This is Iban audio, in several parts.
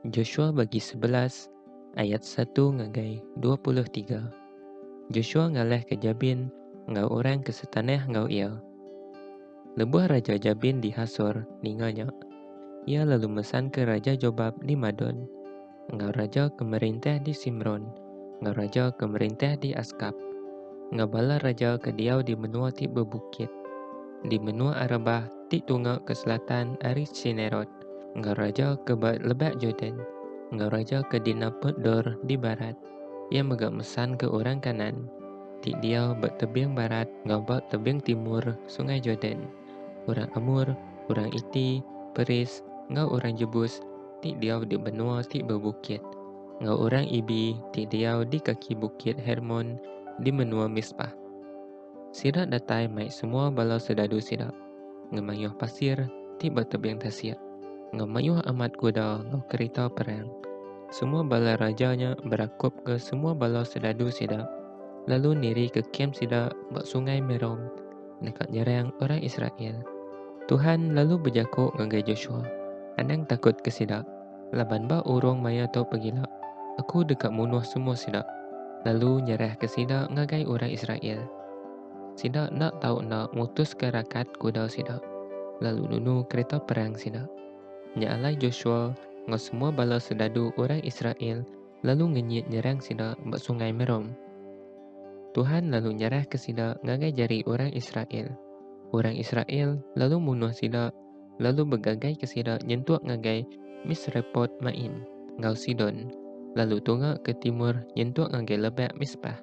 Joshua bagi sebelas ayat satu ngagai dua puluh tiga Joshua ngalahka Jabin enggau orang ke setanah enggau iya. Lebuh Raja Jabin di Hasor ninga nya, iya lalu mesanka Raja Jobab di Madon, enggau raja ke merintah di Simron, enggau raja ke merintah di Askap, enggau bala raja ke diau di menua ti bebukit, di menua Arabah ti tunga ke selatan ari Tsinerot. enggau raja ke ba Lebak Jordan, enggau raja ke dinaput Dor di barat. Iya mega mesanka orang Kanaan ti diau ba tebing barat enggau ba tebing timur Sungai Jordan, orang Amor, orang Iti, Peris, enggau orang Jebus ti diau di menua ti bebukit, enggau orang Ibi ti diau di kaki Bukit Hermon di menua Mispah. Sida datai mai semua bala sedadu sida, ngemayuh pasir ti betebing tasik, ngemayuh amat kuda enggau kerita perang. Semua bala raja nya berakupka semua bala sedadu sida, lalu nirika kem sida ba Sungai Merom deka nyerang orang Israel. Tuhan lalu bejaku ngagai Joshua, Anang takutka sida! Laban ba urung maya tu pegila, Aku deka munuh semua sida, lalu nyerahka sida ngagai orang Israel. Sida enda tau enda mutuska rakat kuda sida, lalu nunu kereta perang sida. Nya alai Joshua enggau semua bala soldadu orang Israel lalu ngenyit nyerang sida ba Sungai Merom. Tuhan lalu nyerahka sida ngagai jari orang Israel. Orang Israel lalu munuh sida lalu begagaika sida nyentuk ngagai Misrepot-maim enggau Sidon, lalu tunga ke timur nyentuk ngagai lebak Mispah.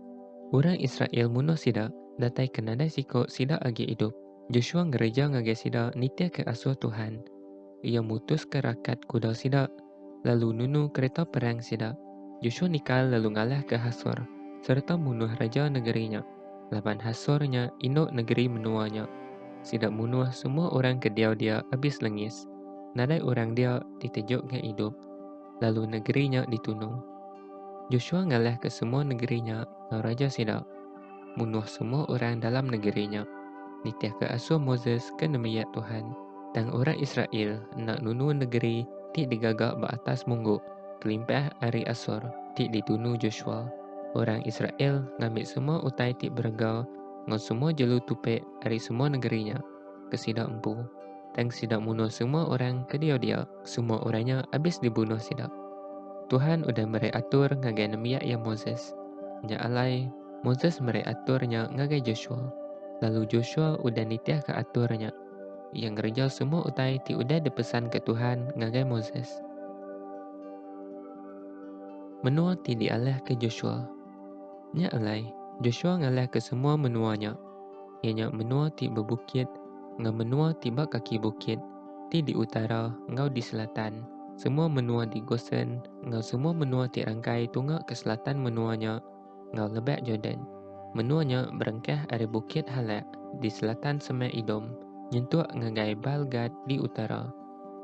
Orang Israel munuh sida, datai ke nadai siku sida agi idup. Josua ngereja ngagai sida nitihka asuh Tuhan. Iya mutuska rakat kuda sida, lalu nunu kereta perang sida. Joshua nikal lalu ngalahka Hasor sereta munuh raja negeri nya, laban Hasor nya indu negeri menua nya. Sida munuh semua orang ke diau dia abis lengis, nadai orang dia ditejoka idup, lalu negeri nya ditunu. Joshua ngalahka semua negeri nya enggau raja sida. munuh semua orang dalam negeri nya. Nitihka asuh Moses ke nembiak Tuhan, tang orang Israel enda nunu negeri ti digaga ba atas munggu kelimpah ari Asor ti ditunu Joshua. Orang Israel ngambi semua utai ti berega enggau semua jelu tupik ari semua negeri nya. ke sida empu, tang sida munuh semua orang ke diau dia, semua orang nya abis dibunuh sida. Tuhan udah meri atur ngagai nembiak iya Moses. Nya alai, Moses meri atur nya ngagai Joshua, lalu Joshua udah nitihka atur nya. Iya ngereja semua utai ti udah dipesanka Tuhan ngagai Moses. Menua ti dialahka Joshua. Nya alai, Joshua ngalahka semua menua nya. iya nya menua ti bebukit enggau menua ti ba kaki bukit, ti di utara enggau di selatan, semua menua di Gosen enggau semua menua ti rangkai tunga ke selatan menua nya enggau Lebak Jordan. Menua nya berengkah ari Bukit Halak di selatan semak Edom nyentuk ngagai Baal Gad di utara,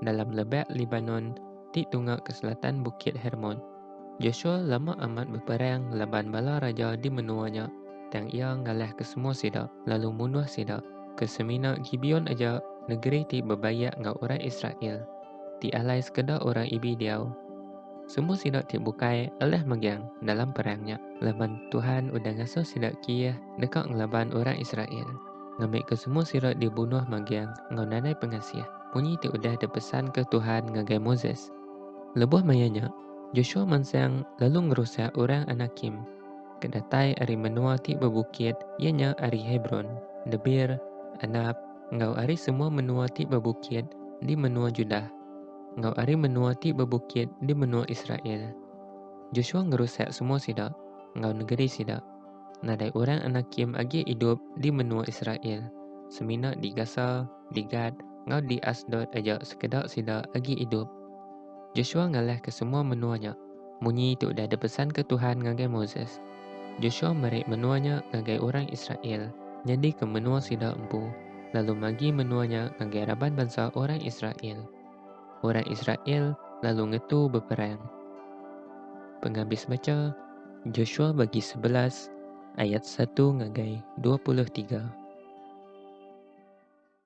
dalam Lebak Libanon ti tunga ke selatan Bukit Hermon. Josua lama amat beperang laban bala raja di menua nya, tang iya ngalahka semua sida, lalu munuh sida. Ke semina Gibeon aja, negeri ti bebayak enggau orang Israel, ti alai sekeda orang Ibi diau. Semua sida ti bukai alah megang dalam perang nya, laban Tuhan udah ngasuh sida kieh deka ngelaban orang Israel, ngambika semua sida dibunuh megang enggau nadai pengasih, munyi ti udah dipesanka Tuhan ngagai Moses. Lebuh maya nya, Joshua mansang lalu ngerusak orang Anakim ke datai ari menua ti bebukit iya nya ari Hebron, Debir, Anab, enggau ari semua menua ti bebukit di menua Judah, enggau ari menua ti bebukit di menua Israel. Joshua ngerusak semua sida, enggau negeri sida. Nadai orang Anakim agi idup di menua Israel, semina di Gasa, di Gat, enggau di Asdod aja sekeda sida agi idup. Josua ngalahka semua menua nya. Munyi tu udah dipesanka Tuhan ngagai Moses. Josua meri menua nya ngagai orang Israel nyadika menua sida empu, lalu magi menua nya ngagai raban bansa orang Israel. Orang Israel lalu ngetu beperang. Pengabis bacha. Josua bagi sebelas ayat satu ngagai dua puluh tiga.